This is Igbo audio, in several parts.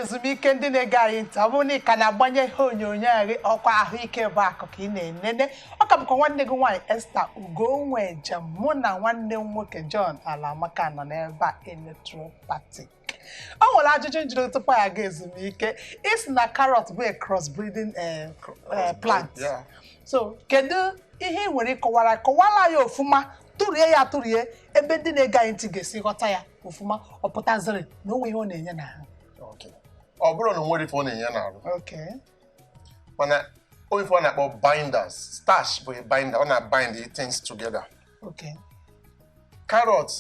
ezumike ndị na-ege anyị ntị ọ bụrụ na ị ka na-agbanye ihe onyonyo anyị ọkwa ahụike bụ akụ ka ị na-enene ọ ka bụkwa nwanne gị nwaanyị Esther Ugonweje mụ na nwanne m nwoke John Alamaka nọ n'ebe a electropathy o nwere ajụjụ m jụrụ tupu anyị aga ezumike ị sị na carrot bụ a cross breeding eh, cr- eh, plant Yeah. so kedu ihe ị nwere ịkọwara kọwara ya ofụma tụrie ya tụrie ebe ndị na-ege anyị ntị ga-esi ghọta ya ofụma ọ pụtaziri na o nweghị ihe ọ na-enye n'ahụ Okay. ọ bụrọ na o nwerọ ife ọ na-enye n'arụ okay. mana o nwe ife a na-akpọ binders starch bụ a binder ọ na-bind things together okay carrot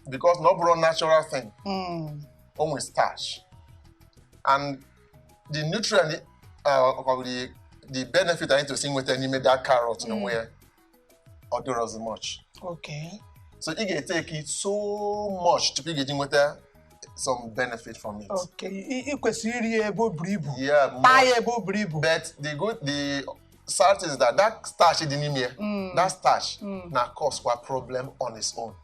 because na ọ bụrọ natural thing mm. o nwere starch and the nutrient uh, the, the benefit anyị tosi inweta n'ime that carrot mm. n'onwe ya ọ dịrọ as much okay so ị ga-eteki so much tupu ị ga-eji nweta some benefit from it. Okay, ị kwesịrị iri ebe o buru ibu. Yeah, taa ya ebe o buru ibu. But the good the sad thing is that that starch dị n'ime ya Mm. that starch Mm. na cause kwa problem on its own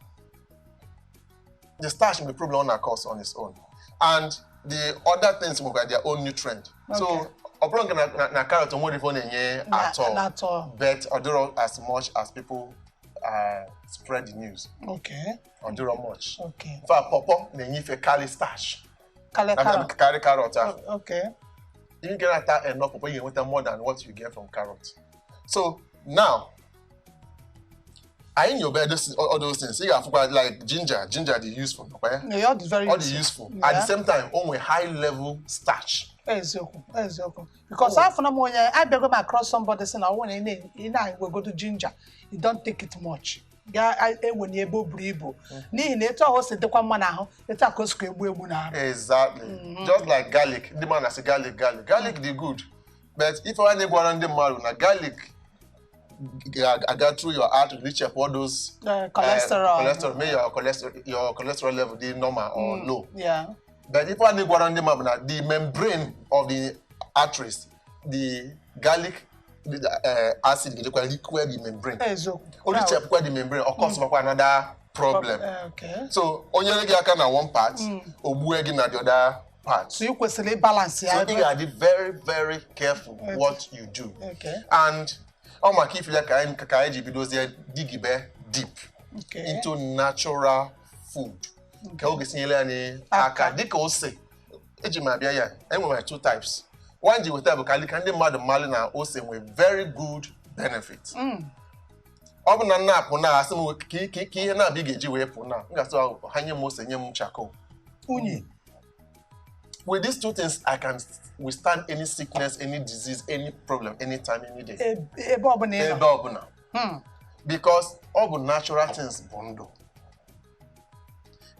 the starch nwe problem ọ na-cause on its own and the other things nwekwara their own nutrient so Okay. ọ bụrọ nke na- na- na carrot nwerọ ife ọ na-enye at all. but ọ dịrọ as much as people uh, spread the news Okay. ọ dịrọ much Okay. in fact pọpọ na-enye ife karị starch karị na- carrot. karị carrot ahụ Oh, okay. ị ga na-ata enough pọpọ ị ga-enweta more than what you get from carrot so now anyị nyoba those- all those things ị ga-afụkwa like ginger ginger dị useful ọ kwa ya Yeah, ọ dị very ọ dị useful at Yeah. the same time o nwee high level starch eziokwu eziokwu because afụọna m onye abịago m across somebody sị na ọ bụrụ na ị na- ị na-ewegodo ginger you don't take it much ga-ewenye ebe o buru ibu n'ihi na etu ahụ o si dịkwa mma n'ahụ etu a ka o sikwa egbu egbu n'ahụ exactly just like garlic ndị mmadụ na-asị garlic garlic garlic dị good but ife anyị gwara ndị mmadụ na garlic ga-aga through your heart o richapụ all those Eh, uh, cholesterol cholesterol mee your cholesterol your cholesterol level dị normal or low Yeah. but ife anyị gwara ndị mmadụ bụ na the membrane of the arteries the garlic eh, acid ga-ejekwa likwe the membrane eziokwu o richapụkwa the membrane ọ kọsụmakwa another problem Eh, okay. so o nyere gị aka na one part o gbue gị na the other part so ị kwesịrị ịbalansị ya so ị ga-adị very very careful what you do Okay. and ọ maka ife a ka anyị ka anyị ji bidozie digibe deep Okay. into natural food ka o ga-esi nyere anyị aka dịka ose eji m bịa ya e nwere two types one ji weta bụ ka alika ndị mmadụ malụ na ose nwee very good benefit mm. ọ bụ na m na-apụ na a sị m ka ihe naabọ ị ga-eji wee pụ na m ga-asị ha nye m ose nye m charcoal unyi with these two things i can withstand any sickness any disease any problem anytime any day ebe ọbụla ebe ọbụla hmm. because ọ bụ natural things bụ ndụ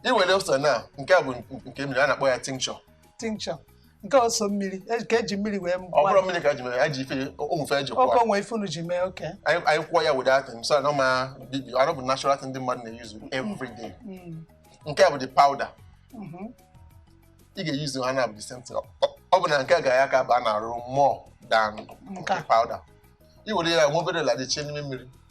i were ose na nke a bụ nke mmiri a na-akpọ ya tincture tincture nke ọ sọ mmiri e- ka e ji mmiri wee ọ bụrọ mmiri ka e ji mere ya ji ife o nwe ife e ji kwa okay o nwe ife unu ji mee okay anyị kwụọ ya wede atị so na ma bibi ọ bụ natural thing ndị mmadụ na-use every day mm. nke a bụ the powder mm-hmm. ị ga-use ha na the same thing ọ bụ na nke a ga-aka aba n'arụ more than powder i were ya nwe obere la dị chie n'ime mmiri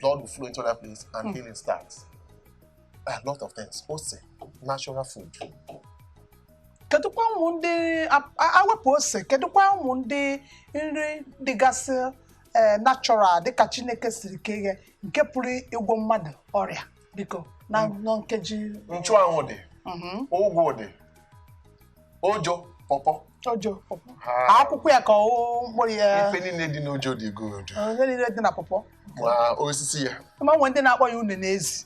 blood will flow into that place and mm. healing starts. A lot of things. Ose, natural food. kedụkwa ụmụ ndị a wepụ ose kedụkwa ụmụ ndị nri dịgasị eh, natural dịka Chineke siri kee nke pụrụ ịgwọ mmadụ ọrịa biko na nkeji nchuanwụ dị mm-hmm. ụgụ dị ojo pọpọ ojo pọpọ akwụkwọ ya ka ọ wụ mkpụrụ ya ife niile dị n'ojo dị good ife niile dị na pọpọ ma osisi ya ma nwe ndị na-akpọ ya une n'ezi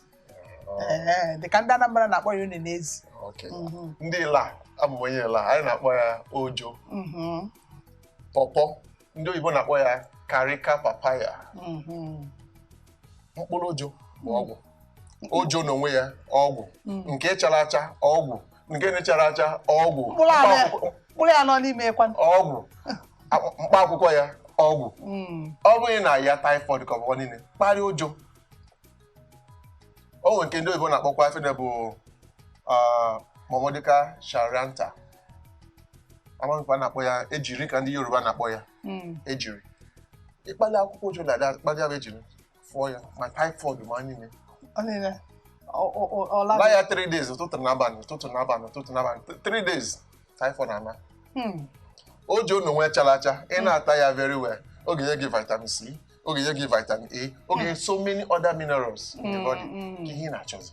oh. dị ka ndị Anambra na-akpọ ya une n'ezi mm-hmm. ndị Illah abụ onye Illah anyị na-akpọ ya ojo mm-hmm. pọpọ ndị oyibo na-akpọ ya Carica papaya mhm. mkpụrụ ojo bụ ọgwụ ojo n'onwe ya ọgwụ mm. nke chara acha ọgwụ nke na-acharọ acha ọgwụ mkpụrụ ya nọ n'ime ọgwụ mkpa akwụkwọ ya ọgwụ mm. ọ bụghị na ya typhoid ka ọ bụkwa niile kparịa ojo o nwere nke ndị oyibo na-akpọkwa ife bụ ah, Momordica charantia amaghịkwa na-akpọ ya ejirin ka ndị Yoruba na-akpọ ya hmm. ejirin ị kpali akwụkwọ ojo na akpali ahụ ejirin fụọ ya ma typhoid ma niile la ya 3 days ụtụtụ na abalị ụtụtụ na abalị ụtụtụ na abalị 3 days typhoid anaa hmm. ojo n'onwe chala acha ị hmm. na-ata ya very well ọ ga-enye gị vitamin C ọ ga-enye gị vitamin A ọ ga-enye so many other minerals in the body Mm, ka mm. ihe ị na-achọzi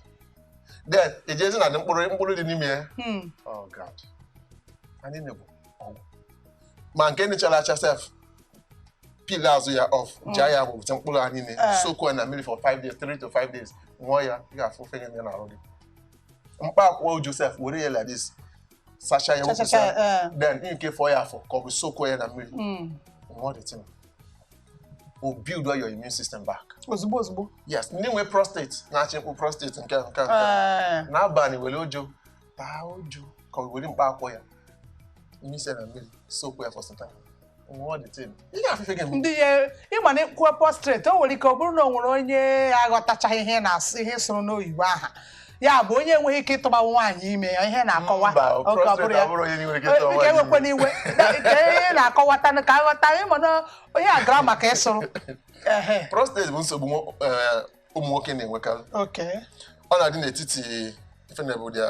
then e jezi na mkpụrụ mkpụrụ dị n'ime ya Hmm. oh god anyị na-egbu ọgwụ ma nke na-acharọ acha sef peel azụ ya off jaa ya bụ bute mkpụrụ ya niine Ah. soak ya na mmiri for 5 days 3 to 5 days ṅụọ ya ị ga-afụ effect ya n'arụ gị mkpa akwụkwọ ojo sef were ya like this sacha ya Cha, cha, wepụsa cha, eh. then ị nke fọ ya afọ ka ọ bụ soak ya na mmiri Hmm. ṅụọ the thing will build your immune system back. ozugbo ozugbo yes ndị nwe prostate na-achị mkpụ prostate nke nke nke eh. n'abalị were ojo taa ojo ka o were mkpa akwụkwọ ya mmisi na mmiri soak ya for some time ndị ya ị ma na ị kwuo prostrate o nwere ike ọ bụrụ na ọ nwere onye aghọtachaghị ihe ị na-asụ ihe ị sụrụ n'oyibo aha ya bụ onye enweghị ike ịtụba nwaanyị ime ya ihe ị na-akọwa Mba, okay ọ bụrọ prostate ya abụrọ onye nwere ike ịtụba Biko nwaanyị ewekwana ime. iwe Da- ka ị na-akọwata ka a ghọta anyị ma na onye a gara ma ka ị sụrụ ehe prostate bụ nsogbu nwo- eh, ụmụ nwoke na-enwekarị okay ọ na-adị n'etiti ife na-abụ the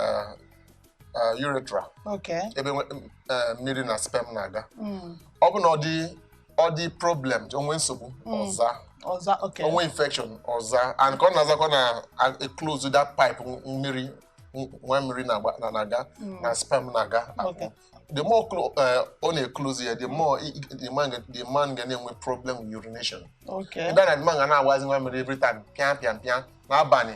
eh, urethra Okay. ebe nwe- m- eh, mmiri na sperm na-aga Mm. ọ bụ na ọ dị ọ dị problem o nwee nsogbu ọ zaa Ọ zaa, okay. o nwee infection ọ zaa and ka ọ na-azakwa na-a- eclose that pipe nw- mmiri nw- nwa mmiri na-agba- na- na-aga na sperm na-aga Okay. the more clo- eh, ọ na-eclose ya the more i- i- the man ga- the man ga na-enwe problem with urination Okay. then the man ga na-agbazi nwa mmiri every time pịa pịa pịa n'abalị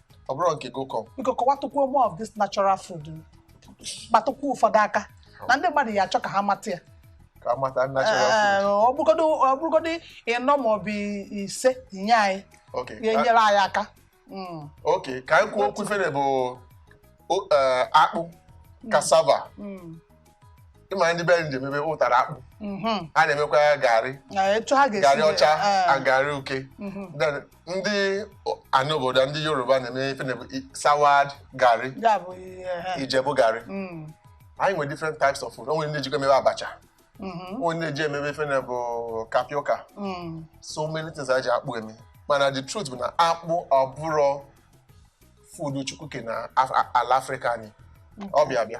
ọ bụrụ nke gokọ biko kọwatụkwuo more of this natural food kpatụkwuo ụfọdụ aka na ndị mmadụ ya achọ ka ha mata ya ka a mata natural food Ee, ọ bụrụgodị ọ bụrụgodị ịnọ ma ọ bụ ise nye anyị okay ka- ga-enyere anyị aka Mm, okay ka anyị kwuo okwu ife na-abụ o- eh, akpụ cassava mm. ị ma ndị be anyị ji emebe ụtara akpụ Mhm. ha na-emekwa ya garị Na etu ha ga-esi garị ọcha eh, na garị uke mhm. Then, ndị anị obodo ndị yoruba na-eme ife na-abụ i- soured garị ya bụ ihe ha. ijebu garị Mm, anyị nwere different types of food o nwere ndị jikwa emebe abacha mhm, o nwere ndị ji emebe ife na-abụ tapioca mm. so many things anyị ji akpụ eme mana the truth bụ na akpụ ọ bụrọ food Chukwu kee na Af- ala afrịka anyị ọ bịa abịa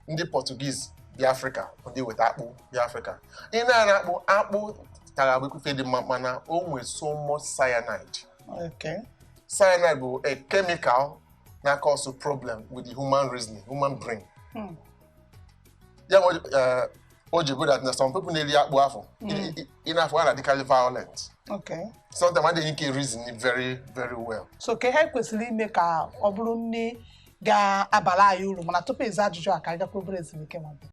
ndị Portuguese bịa afrịka ndị weta akpụ bịa afrịka ị na-ara akpụ akpụ kara ịbụkwu ife dị mma mana o nwere so much cyanide okay. cyanide bụ a chemical na-cause problem with the human reasoning human brain hmm. ya nwere eh, o ji bụrụ na some people na-eri akpụ afụ ị na-afụ fa na-adịkarị violent sometimes adịghị enwe ike reason very very well so kee ihe e kwesịrị ime ka ọ bụrụ nni ga-abara anyị uru mana tupu ịza ajụjụ a ka anyị gakwuru obere ezumike